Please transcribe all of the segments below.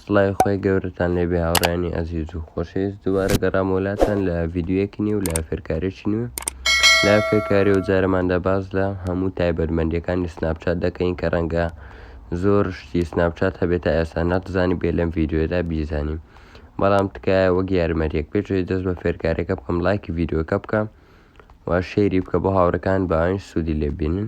سڵاوی خوای گەورەتان لێبێ هاوڕێیانی ئەزیز و خۆشەویست دووبارە گەڕامەوە لاتان لە ڤیدیۆیەکی نوێ و لە فێرکارێکی نوێ لە فێرکاری و جارەماندا باس لە هەموو تایبەتمەندیەکانی سناپچات دەکەین کە ڕەنگە زۆر شتی سناپچات هەبێت تا ئێستا نەتزانی بێ لەم ڤیدیۆدا بیزانین بەڵام تکایە وەک یارمەریەک پێشەوەی دەست بە فێرکارەکە بکەم لایکی ڤیددیوەکە بکە و شێری بکە بۆ هاوڕەکان باوین سوودی لێبینن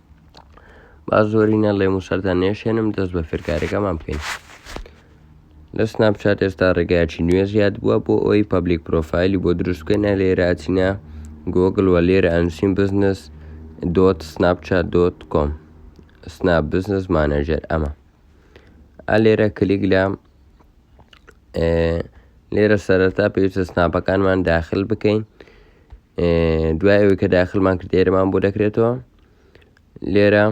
با زۆرینە لێم و سەرتان نێشێنم دەست بە فێرکاریەکەمان بکەین لە سناپچات ئێستا ڕێگایکی نوێ زیاد بووە بۆ ئەوی پبلیک پرۆفایلی بۆ دروست بکەینە لێراچینە گۆگل وە لێرە ئەنووسین بزنس دۆت سناپچات دۆت کۆم سناپ بزنس مانەجەر ئەمە ئە لێرە کلیک لە لێرە سەرەتا پێویستە سناپەکانمان داخل بکەین دوای ئەوەی کە داخلمان کرد ئێرەمان بۆ دەکرێتەوە لێرە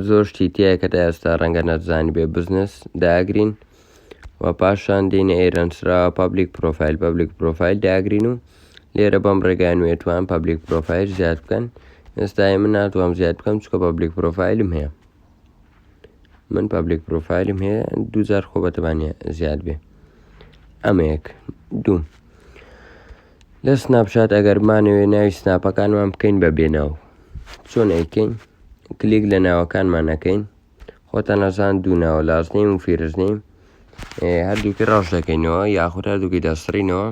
زۆر شتی تایە کە تا ئێستا ڕەنگە نەزانانی بێ بزنس داگرین و پاشان دێنە ئێرەنسرا پابلیک پرۆفایل پابلیک پرۆفایل داگرین و لێرە بەم ڕێگای نوێتوان پابلیک پرۆفایل زیاد بکەن ئێستای من ناتوانم زیاد بکەم چکە پابلیک پرۆفایلم هەیە من پابلێک پرۆفایلم هەیە دوجار خۆ بەتەبانە زیاد بێ ئەمەیەک دوو لە سناپشات ئەگەرمانەوێ ناوی سناپەکانمان بکەین بە بێناو چۆن ئەیکەین کلێک لە ناوەکانمان نەکەین خۆتان نەزان دوو ناوە لازنیم و فیرزنیم هەردووکی ڕاش دەکەینەوە یاخود هەردووکی دەسڕینەوە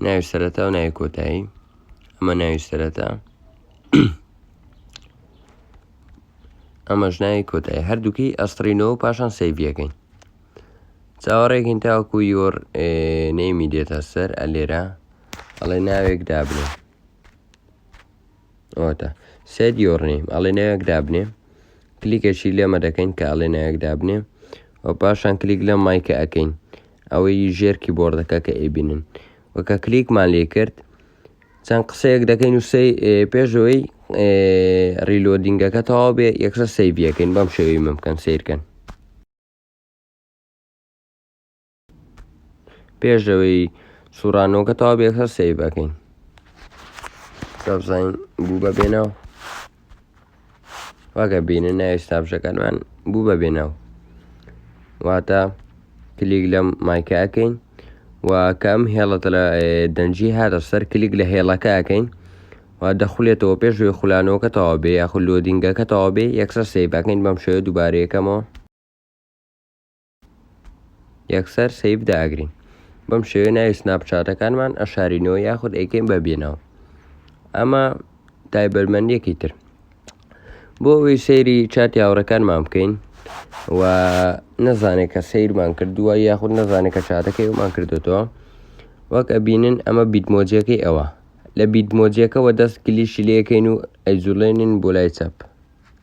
ناوی سەرەتا و ناوی کۆتایی ئەمە ناوی سەرەتا ئەمەش ناوی کۆتایی هەردووکی ئەستڕینەوە پاشان سەیڤەکەین چاوەڕێکین تاوەکو یۆر نەیمی دێتە سەر ئەلێرە ئەڵێ ناوێک دابنێ ئەوەتە سێت یۆرنیم ئەڵێ ناوێک دابنێ کلیکەشی لێمە دەکەین کە ئەڵێ ناوێک دابنێ و پاشان کلیک لە مایکە ئەەکەین ئەوەی ژێرکی بۆردەکە کە ئەیبینن وەکە کلیکمان لێ کرد چەند قسەیەک دەکەین و سەی پێشەوەی ڕیلۆدینگەکە تەواو بێ یەکسەر سەیڤەکەین بەم شێوی من بکەن سیرکەن پێشەوەی سوورانەوەکە تەواو بێ یەکسەر سەیڤەکەین بزانین بوو بە بێنەوە واگە بینە ناوی سناپشەکانمان بوو بە بێناو واتە کلیک لەم مایکە ئەەکەین و کەم هێڵە دەنجی هاتە سەر کلیک لە هێڵەکە ئەەکەین و دەخولێتەوە پێشوی خولانەوەکە تەوا بێ یاخود لۆدینگەکە تەوا بێ یەکسەر سێ بەکەین بەم شێوە دووبارەیەکەمەوە یەکسەر سەیڤ داگرین بەم شێوەیە ناوی سناپچاتەکانمان ئەشارینەوە یاخود ئەیکەین بە بێنەوە ئەمە تایبەرمەندیەکی تر بۆ ئەوی سەیری چات یاوڕەکانمان بکەین و نەزانێت کە سیرمان کردووە یاخود نەزانێت کە چاتەکەی ئەومان کردوێتەوە وەک ئەبینن ئەمە بیدمۆجیەکەی ئەوە لە بیدمۆجیەکەەوە دەست کلیشی لەکەین و ئەیزولێنین بۆ لای چەپ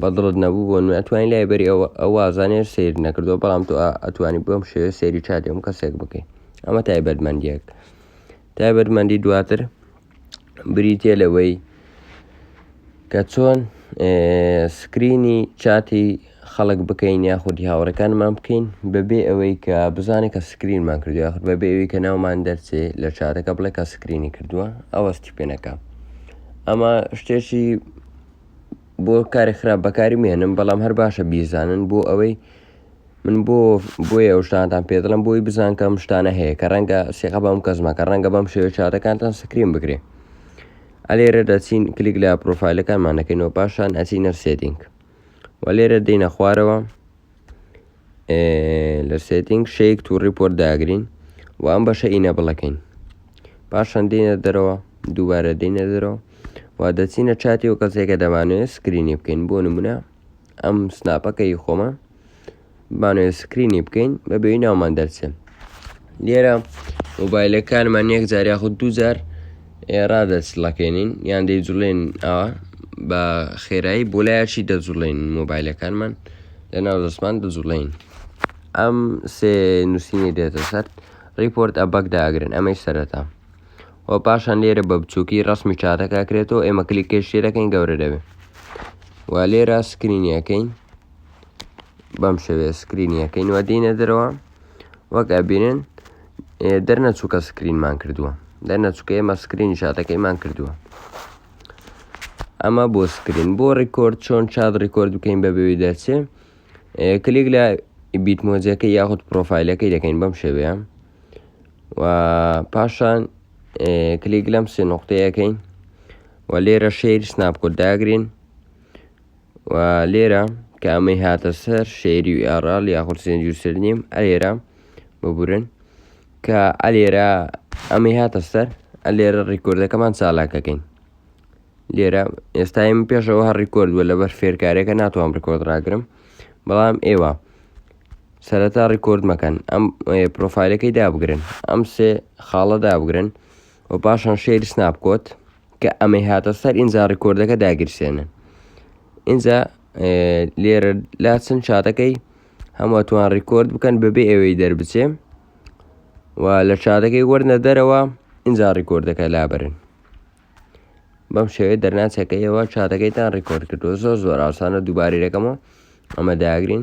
بەدڵت نەبوو بۆ من ئەتوانی لای بەری ئەوە ئەو وازانێر سیر نەکردو بەڵام تو ئەتوانی بۆم شێوێ سێری چاتێم کەسێک بکەین ئەمە تایبەتمەندیەک تایبەتمەندی دواتر بریتە لەوەی کە چۆن سکرینی چاتی خەڵک بکەین یاخودی هاوڕێکانمان بکەین بەبێ ئەوەی کە بزانێت کە سکرینمان کردو یاخود بەبێ ئەوەی کە ناومان دەرچێ لە چاتەکە بڵێ کە سکرینی کردووە ئەوەستی پێنەکە ئەمە شتێکی بۆ کاری خراپ بەکاری مێنم بەڵام هەر باشە بیزانن بۆ ئەوەی من بۆ بۆیە ئەو شتانتان پێ دڵم بۆی بزان کەم شتانە هەیە کە ڕەنگە سێقە بەم کەسمە کە ڕەنگە بەم شێوە چاتەکانتان سکرین بگرێ ئەلێرە دەچین کلیک لە پرۆفایلەکانمان نەکەینەوە پاشان ئەچینە سێدینگ و لێرە دێینە خوارەوە لە سێتنگ شەیک تو ڕیپۆرت داگرین و ئەم بەشە ئینە بڵەکەین پاشان دێنە دەرەوە دووبارە دێنە دەرەوە و دەچینە چاتی و کەسێکە دەمانوێت سکرینی بکەین بۆ نمونە ئەم سناپەکەی خۆمە بانەوێ سکرینی بکەین بە بێوی ناومان دەرچێن لێرە مۆبایلەکانمان یەک جار یاخود دوو جار ئێرا دەچڵەکەێنین یان دەیجوڵێن ئەوە بە خێرایی بۆ لایەکی دەجوڵێن مۆبایلەکانمان لە ناو دەستمان دەجوڵین ئەم سێ نووسینی دێتە سەر ریپۆرت ئەبک داگرن ئەمەی سەرەتا و پاشان لێرە بە بچووکی ڕسمی چاتەکە کرێتەوە ئێمە کلیکێشێ دەکەین گەورە دەبێت و لێرە سکرینیەکەین بەم شێوێ سکرینیەکەین وە دینە دەرەوە وەک ئەبینن دەرنەچووکە سکرینمان کردووە دەرنەچووکە ئێمە سکرین شاتەکەیمان کردووە ئەمە بۆ سکرین بۆ ڕیکۆرد چۆن چاد ڕیکۆرد بکەین بە بێوی دەرچێ کلیک لە بیت مۆزیەکە یاخود پرۆفایلەکەی دەکەین بەم شێوەیە و پاشان کلیک لەم سێ نقطەیەکەین و لێرە شێری سناپکۆت داگرین و لێرە کە ئەمەی هاتە سەر شێری و ئێڕال یاخود سێنج و سلنیم ئەلێرە ببورن کە ئەلێرە ئەمەی هاتە سەر ئەلێرە ڕیکۆردەکەمان چالاکەکەین لێرە ئێستایم پێشەوە هەر ڕیکۆرد بووە لەبەر فێرکارێکە ناتوانم ڕیکۆرد ڕاگرم بەڵام ئێوە سەرەتا ڕیکۆرد مەکەن ئەم پرۆفایلەکەی دابگرن ئەم سێ خاڵە دابگرن و پاشان شێری سناپ کۆت کە ئەمەی هاتە سەر ئینجا ڕیکۆردەکە داگیرسێنن ئینجا لێرە لا چەند چاتەکەی هەمووتوان ڕیکۆرد بکەن بەبێ ئەوەی دەربچێ و لە چاتەکەی وەرنە دەرەوە ئینجا ڕیکۆردەکە لابرن بەم شێوێت دەرناچەکەیەوە چاتەکەیتان ڕیکۆرد کردو زۆر زۆر ئاسانە دووبارەکەمەوە ئەمە داگرین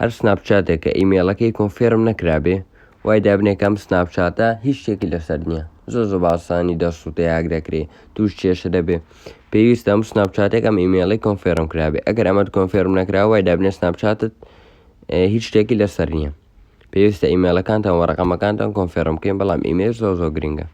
هەر سناپچاتێک کە ئیمەیڵەکەی کۆنفێرم نەکرابێ وای دابنێ کە ئەم سناپچاتە هیچ شتێکی لەسەر نییە زۆر زۆر بە ئاسانی دەرسووت یا هاک دەکرێ تووش کێشە دەبێ پێویستە ئەم سناپچاتێک ئەم ئیمەیڵی کۆنفێرم کرابێ ئەگەر ئەمەت کۆنفێرم نەکرا وای دابنێ سناپچاتت هیچ شتێکی لەسەر نییە پێویستە ئیمەیڵەکانتان وە ڕقەمەکانتان کۆنفێرم بکەین بەڵام ئیمەیل زۆر زۆر گرنگە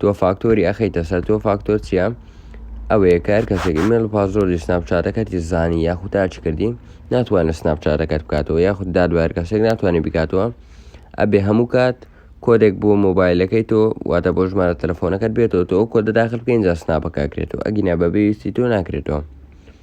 تۆ فاکتۆری ئەخیتە سەر تۆ فاکتۆر چییە؟ ئەوەیە کار کەسێک ئیمێل پازۆری سناپچاتەکەتی زانی یاخود تاچ کردی ناتوانێت سناپچاتەکەت بکاتەوە یاخود دادوار کەسێک ناتوانێت بکاتەوە ئەبێ هەموو کات کۆدێک بۆ مۆبایلەکەی تۆ واتە بۆ ژمارە تەلەفۆنەکەت بێتەوە تۆ کۆدە داخل بکەین جا سناپەکە کرێتەوە ئەگینا بەبێویستی تۆ ناکرێتەوە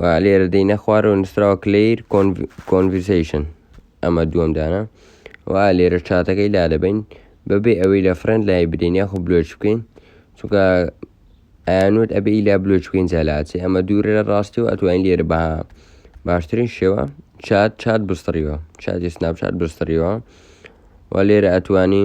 و لێرە دەینە خوارەوە نووسراوە کلیر کۆنڤسیشن ئەمە دووەم دانە و لێرە چاتەکەی لا دەبین بەبێ ئەوەی لە فرەند لای بدەین یاخۆ بلۆچ بکەین چونکە ئەیانوت ئەبێ ئیلا بلۆچ بکەین جالاچێ ئەمە دوورە لە ڕاستی و ئەتوانین لێرە بە باشترین شێوە چات چات بستڕیوە چاتی سناپ چات بستڕیوە و لێرە ئەتوانی